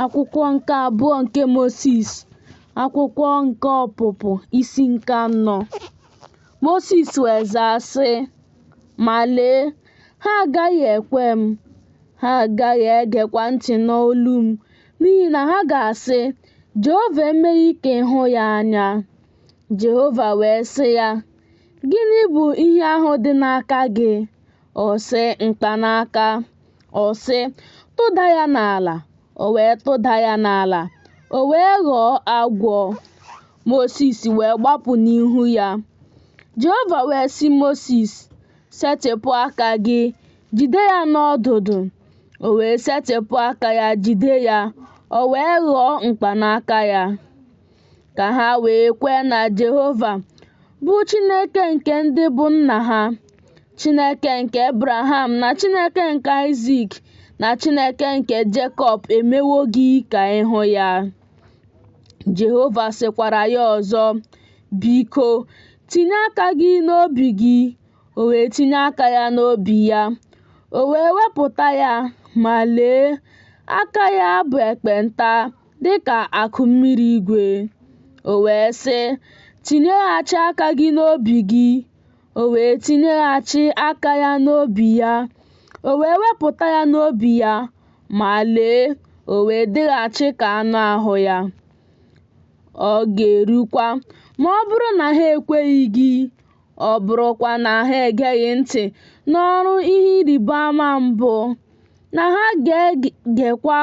akwụkwọ nke abụọ nke Mosis akwụkwọ nke ọpụpụ isi nke anọ Mosis wee zaa sị ma lee ha agaghị ekwe m ha agaghị egekwa ntị n'olu m n'ihi na ha ga-asị Jehova emeghị ka ị hụ ya anya Jehova wee sị ya gịnị bụ ihe ahụ dị n'aka gị ọ sị mkpanaka ọ sị, Tụda ya n'ala! O wee tụda ya n'ala, o wee ghọọ agwọ. Mosis wee gbapụ n'ihu ya. Jehova wee sị Mosis, Setịpụ aka gị, jide ya n'ọdụdụ. O wee setịpụ aka ya jide ya, o wee ghọọ mkpanaka ya. ka ha wee kwee na Jehova bụ Chineke nke ndị bụ nna ha, Chineke nke Abraham na Chineke nke Aịzik na Chineke nke Jekọb emewo gị ka ị hụ ya. Jehova sịkwara ya ọzọ, Biko, tinye aka gị n'obi gị. O wee tinye aka ya n'obi ya, o wee wepụta ya, ma lee, aka ya bụ ekpenta. dị ka akụ mmiri igwe. O wee sị, Tinyeghachi aka gị n'obi gị. O wee tinyeghachi aka ya n'obi ya. O wee wepụta ya n'obi ya, ma lee, o wee dịghachi ka anụ ahụ ya. Ọ ga-erukwa ma ọ bụrụ na ha ekweghị gị ọ bụrụkwa na ha egeghị ntị n'ọrụ ihe ịrịba ama mbụ, na ha ga-egekwa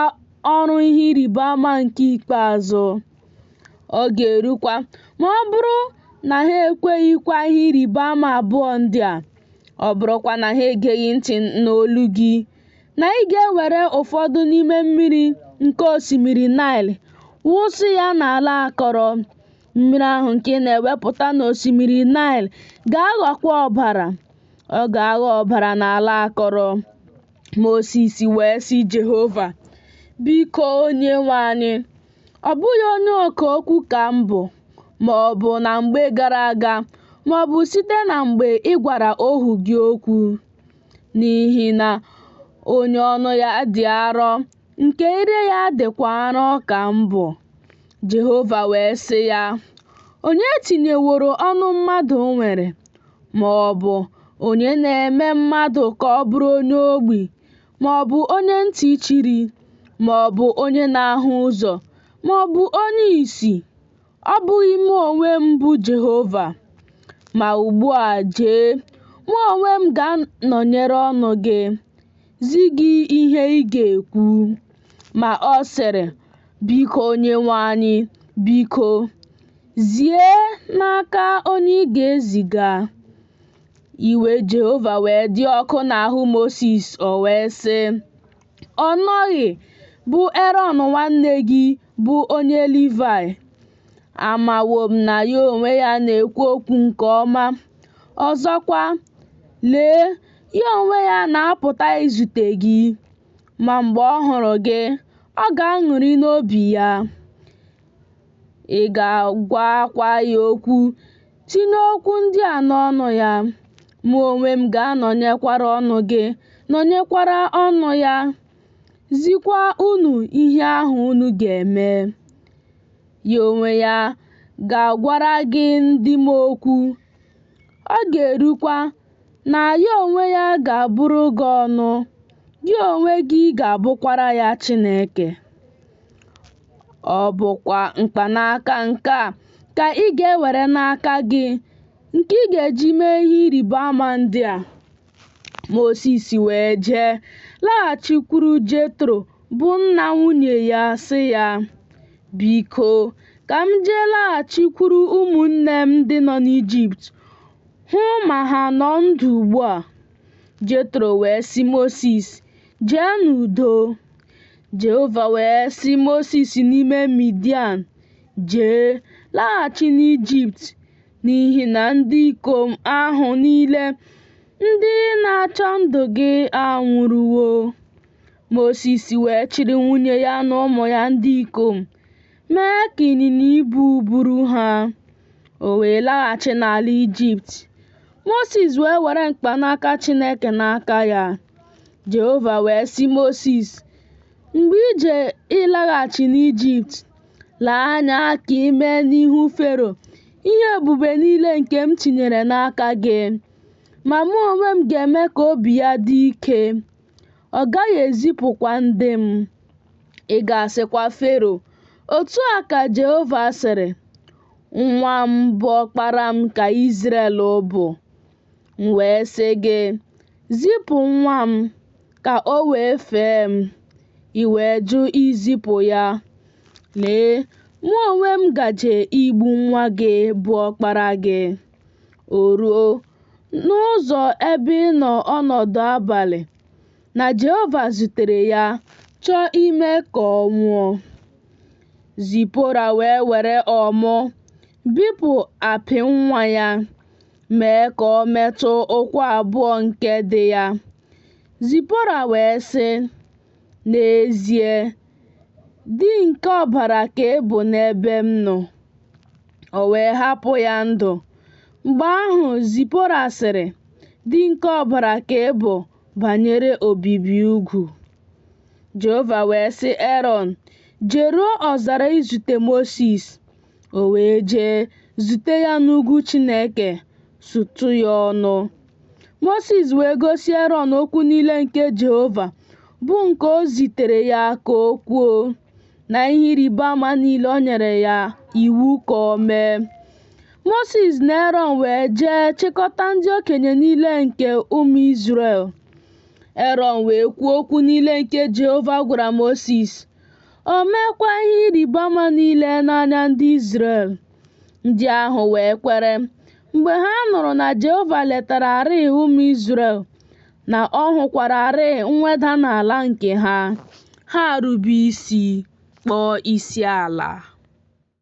ọrụ ihe ịrịba ama nke ikpeazụ. Ọ ga-erukwa ma ọ bụrụ na ha ekweghịkwa ihe ịrịba ama abụọ ndị a, ọ bụrụkwa na ha egeghị ntị n'olu gị, na ị ga-ewere ụfọdụ n'ime mmiri nke osimiri Naịl wụsị ya n'ala akọrọ. Mmiri ahụ nke ị na-ewepụta n'osimiri Naịl ga-aghọkwa ọbara. Ọ ga-aghọ ọbara n'ala akọrọ. Mosis wee sị Jehova, Biko Onyenwe anyị, ọ bụghị onye ọka okwu ka m bụ, ma ọ bụ na mgbe gara aga, ma ọ bụ site na mgbe ị gwara ohu gị okwu, n'ihi na onye ọnụ ya dị arọ nke ire ya dịkwa arọ ka m bụ. Jehova wee sị ya, Onye tinyeworo ọnụ mmadụ nwere, ma ọ bụ onye na-eme mmadụ ka ọ bụrụ onye ogbi, ma ọ bụ onye ntị chiri, ma ọ bụ onye na-ahụ ụzọ, ma ọ bụ onye isi? Ọ bụghị mụ onwe m bụ Jehova. Ma ugbu a jee, mụ onwe m ga-anọnyere ọnụ gị, zi gị ihe ị ga-ekwu. Ma ọ sịrị, Biko Onyenwe anyị, biko, zie n'aka onye ị ga-eziga. Iwe Jehova wee dị ọkụ n'ahụ Mosis, o wee sị, Ọ nọghị, bụ Erọn nwanne gị bụ onye Livaị. Amawo m na ya onwe ya na-ekwu okwu nke ọma. Ọzọkwa, lee, ya onwe ya na-apụta izute gị. Ma mgbe ọ hụrụ gị, ọ ga-aṅụrị n'obi ya. Ị ga-agwakwa ya okwu Tinye okwu ndị a n'ọnụ ya. Mụ onwe m ga-anọnyekwara ọnụ gị, nọnyekwara ọnụ ya, zikwa unu ihe ahụ unu ga-eme. Ya onwe ya ga-agwara gị ndị m okwu. Ọ ga-erukwa na ya onwe ya ga-abụrụ gị ọnụ, gị onwe gị ga-abụkwara ya Chineke. Ọ bụkwa mkpanaka nke a ka ị ga-ewere n'aka gị, nke ị ga-eji mee ihe ịrịba ama ndị a. Mosis wee jee laghachikwuru Jetro bụ nna nwunye ya sị ya, Biko, ka m jee laghachikwuru ụmụnne m ndị nọ n'Ijipt hụ ma ha nọ ndụ ugbu a. Jetro wee sị Mosis, Jee n'udo. Jehova wee sị Mosis n'ime Midian, Jee, laghachi n'Ijipt, n'ihi na ndị ikom ahụ niile ndị na-achọ ndụ gị anwụrụwo. Mosis wee chịrị nwunye ya na ụmụ ya ndị ikom, mee ka ịnyịnya ibu buru ha. O wee laghachi n'ala Ijipt. Mosis wee were mkpanaka Chineke n'aka ya. Jehova wee sị Mosis, Mgbe i je ịlaghachi n'Ijipt, lee anya ka i mee n'ihu Fero ihe ebube niile nke m tinyere n'aka gị. Ma mụ onwe m ga-eme ka obi ya dị ike, ọ gaghị ezipụkwa ndị m. Ị ga-asịkwa Fero, Otu a ka Jehova sịrị, Nwa m bụ ọkpara m ka Izrel bụ. M wee sị gị, Zipụ nwa m ka o wee fee m, i wee jụ izipụ ya. Lee, mụ onwe m gaje igbu nwa gị bụ ọkpara gị. O ruo, n'ụzọ ebe ịnọ ọnọdụ abalị, na Jehova zutere ya, chọọ ime ka ọ nwụọ. Zipora wee were ọmụ bipụ apị nwa ya. mee ka ọ metụ ụkwụ abụọ nke di ya. Zipora wee sị, N'ezie, di nke ọbara ka ị bụ n'ebe m nọ. O wee hapụ ya ndụ. Mgbe ahụ Zipora sịrị, Di nke ọbara ka ị bụ banyere obibi ugwu. Jehova wee sị Erọn, Jeruo ọzara izute Mosis. O wee jee zute ya n'ugwu Chineke, sụtụ ya ọnụ. Mosis wee gosi Erọn okwu niile nke Jehova, bụ nke o zitere ya ka o kwuo, na ihe ịrịba ama niile o nyere ya iwu ka o mee. Mosis na Erọn wee jee chịkọta ndị okenye niile nke ụmụ Izrel. Erọn wee kwuo okwu niile nke Jehova gwara Mosis. O meekwa ihe ịrịba ama niile n'anya ndị Izrel. Ndị ahụ wee kwere mgbe ha nụrụ na Jehova letararịị ụmụ Izrel na ọ hụkwararịị mweda n'ala nke ha. Ha rube isi kpọọ isi ala.